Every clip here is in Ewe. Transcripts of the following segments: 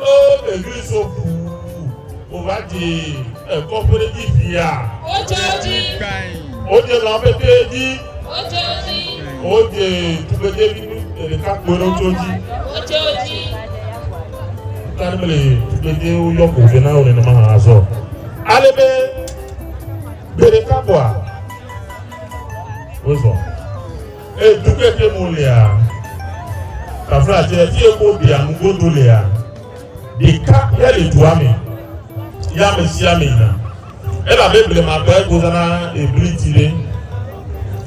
O Begley so fu o va dzi e kɔƒe ɖe dzi fia. O dze dzi. O dze lã ƒe te dzi. O dze dzi. O dze tugbe te bi nu te ɖe ka kpɔe ɖe o tso dzi. O dze o dzi. Ta ne mele tugbe te o yɔ ko fe na o nene ma ha azɔ. Ale be gbe ɖe ka kpɔa. O zɔ. E du keke mo lea, tafla tse fi eko ɖia nugodo lea, ɖeka ya le dua me ya ame sia ame yina. Elabe blema gbe gozana ebli ti ɖe.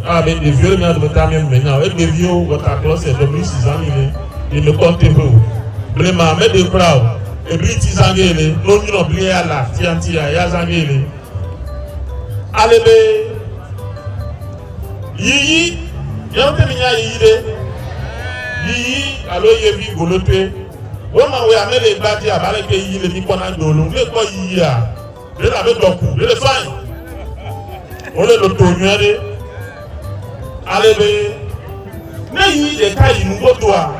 Elabe ɖeviwo le mía dometɔ amewo me nya o. Egbeviwo wɔta klɔse ɖe bli si zã mi le yi me kpɔ teƒe o. Blema meɖe kura o. Ebli ti zã ge le no nyrɔ bli ya la tiantia ya zã ge le. Alebe. Yiyi, miawo ŋutɔ minya yiyi ɖe? Yiyi alo yevi golotoe. Wonɔ wea me le egbea dzi abe aleke yiyi le mikpɔna do ene. Ne ekpɔ yiyia, ɖe le abe dɔ ku, ɖe le fine. Wole loto nyuie ɖe. Ale be ne yiyi ɖeka yi nu godoa,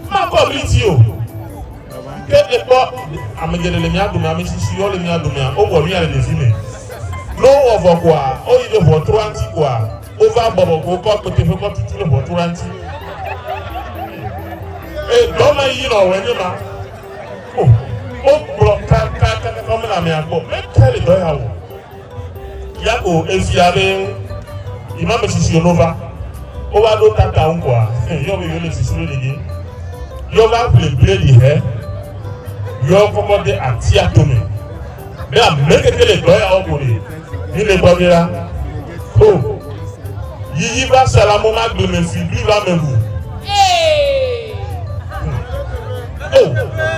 makɔ bliti o. Ke ekpɔ ame geɖe le mia dome, ame tsitsi yɔ le mia domea, wowɔ nuya le ɖevi me. Ne wowɔ vɔ koa, woyi ɖe ʋɔtrua ŋuti koa, wova bɔbɔ ko wokɔ akpete ƒe kɔ tutu ɖe ʋɔtrua ŋuti. E, dɔme yi nɔ wɔe nye ma. O, wogblɔ kaka kaka kɔ mena amea gbɔ. Meke le dɔ ya wɔ. Yako efia be ima me sisi ono va. Wova ɖo tata ŋu koa, yɔ be yole sisi ɖe ɖege. Yɔ va ƒle bledi he. Yɔ kɔkɔ de atia tome. Be ame keke le dɔ ya wɔm le mi le gbɔ ge la, ho yiyi va sa la mo ma gbe me si bli va me ŋu. Oh.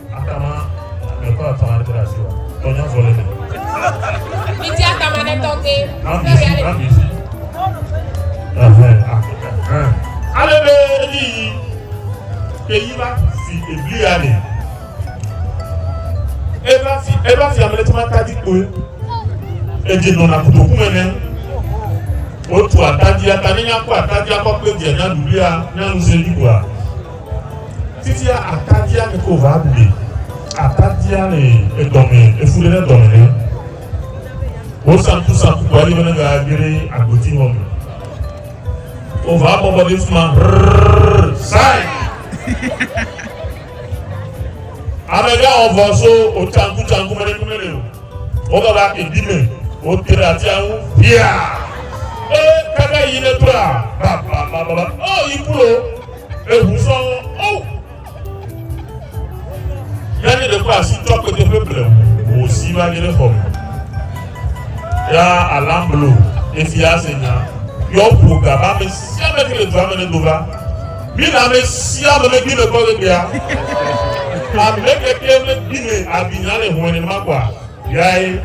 Atama mekɔ atama ɖe ɖe asi wa. Tɔnya vɔ le mi. Miti atama ɖe tɔgbe. Amisi, amisi. Ɛhɛn, ɛhɛn. Ale be ni yi ke yi va fi ebli ya ne. Eva fi, eva fi amele tuma tadi koe. Edze nɔna kutoku me ne. Wotu atadi, atani nya kɔ atadi akɔ kpe dia nya dulia, nya nuse ni koa. Fifia atadia mi ko va ɖu mi. Atadia le edɔme efu ɖe dɔme ɖe. Wo sanku sanku kɔ yi mene ga gere agboti hɔ me. O va bɔbɔ ɖe fuma rrrr sai. Amega ɔvɔ so o tsanku tsanku mene kume le o. O baba ebi me o tere atia ŋu bia. E kaka yi ne tura baba baba o yi kulo. Eŋu sɔ wo. O! Ya ne ɖe kɔ asi tsɔ akpete ƒe ble wò si va nye ɖe xɔ me. Ya alam blo efi ase nya. Yɔ ƒo ga ba me si ame ke le dua me ne do va. Mi na me si ame me gbi me kɔ le bia. Ame ke ke me gbi me abi nya le hɔn ne ma kɔa. Viae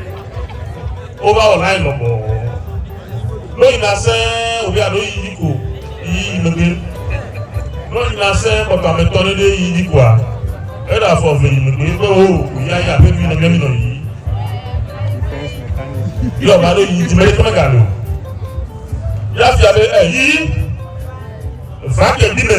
wova wɔ nae lɔbɔɔ. Ɖo yina se wòvia ɖo yi yi ko yi yi megbe. Ɖo yina se kpɔtɔ ametɔ ɖe ɖe yi yi koa. Eɖe afɔ ve yi megbe be wo ko yi ayi aƒe vi ne gemi nɔ yi. Yɔ va ɖo yi dzime ɖe keme ga lo. Ya fia be e yi va ke bi me.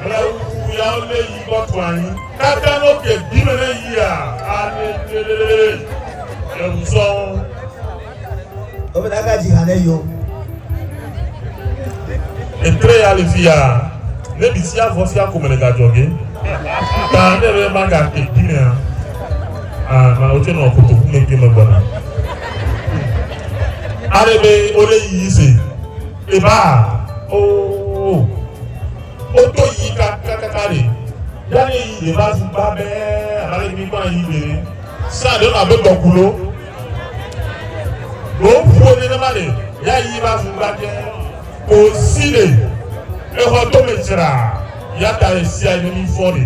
Ble wuku ya wo le yi gbɔ kpɔ anyi. Kaka no ke bi me ne yi a ane tele le wu sɔn. O me daga ji hane yo. Etre ya le fi ya ne bi si avɔ fi ako me le gadzɔ ge. Ta ne be ma ga ke bi me a. A ma o tse no koto ku me ke me gbɔna. Are be o le yi se. Eba oo o to yi ka ka ka ka le ya ne yi de ba zu ba bɛ aba le mi kpa yi de ne sa de la be tɔ kulo lo ƒo ne ne ma le ya yi ba zu ba bɛ o si le exɔ to me tsra ya ta le sia ne mi fɔ le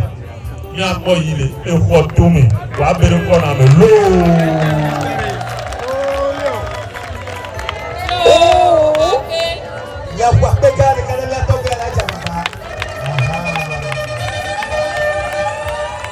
Míakpɔ yi le exɔ tome wòa be ɖe kɔna me loo.